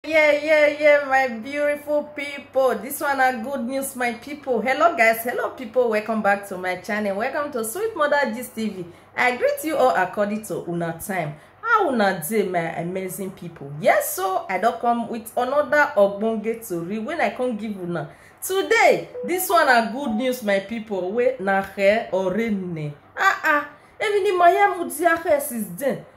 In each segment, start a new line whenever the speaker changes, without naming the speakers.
yeah yeah yeah my beautiful people this one are good news my people hello guys hello people welcome back to my channel welcome to sweet mother gist tv i greet you all according to una time how una dey my amazing people yes so i don come with another ogbonge tori when i come give una today this one are good news my people wey na here or rain ah ah even the mayamu diahe since then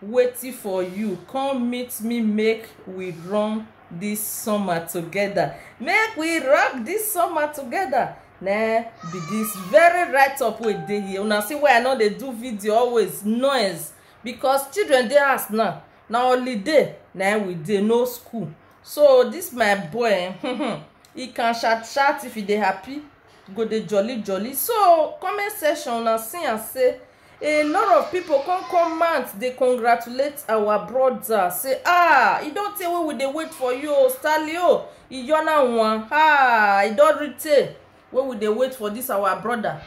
waiting for you come meet me make we run this summer together make we rock this summer together na be this very right up wey dey here una see why i no dey do video always noise because children dey house now na holiday na we dey no school so this my boy eh, he can shout shout if he dey happy go dey jolly jolly so comment section una see am say a lot of people come comment dey congratulate our brother say ah e don tey wey we dey wait for you o stanley o iyona wan ah e don reach tey wey we dey wait for this our brother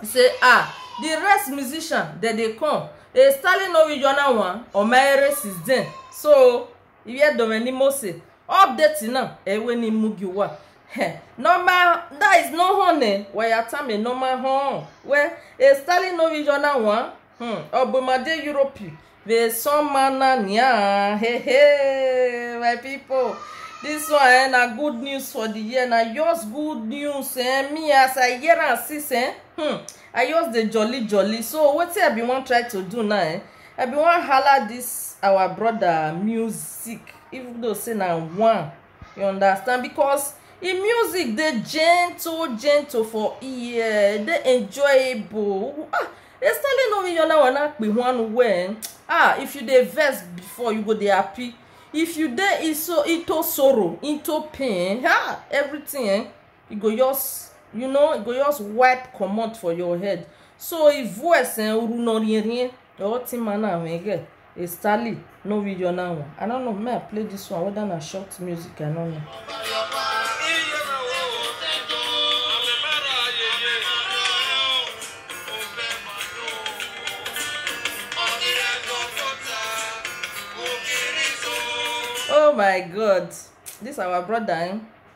say ah the rest musician dem dey come e stanley no iyona wan omaere since then so iwe dome ni mose update na ewe ni mugi wa Heh, normal that is no honey waya tame normal hon we e stalin no vision na wan hmm obumade europe ve soma na nia he he my people this one eh, na good news for the year na yours good news eh, me as i hear am since eh, hmm, i just dey jolly jolly so wetin i bin wan try to do now eh, i bin wan hala this our brother music even though say na one you understand because e music dey gentle gentle for ear e dey enjoyable ah estelle no yona wana pe one well ah if you dey vex before you go dey happy if you dey iso into sorrow into pain ah everything eh e go just you know e go just wipe comot for your head so e voice eh oru no rien rien or ti man na wege e stali no video na one i don't know may i play this one whether na short music i don't know. oh my god this our brother eh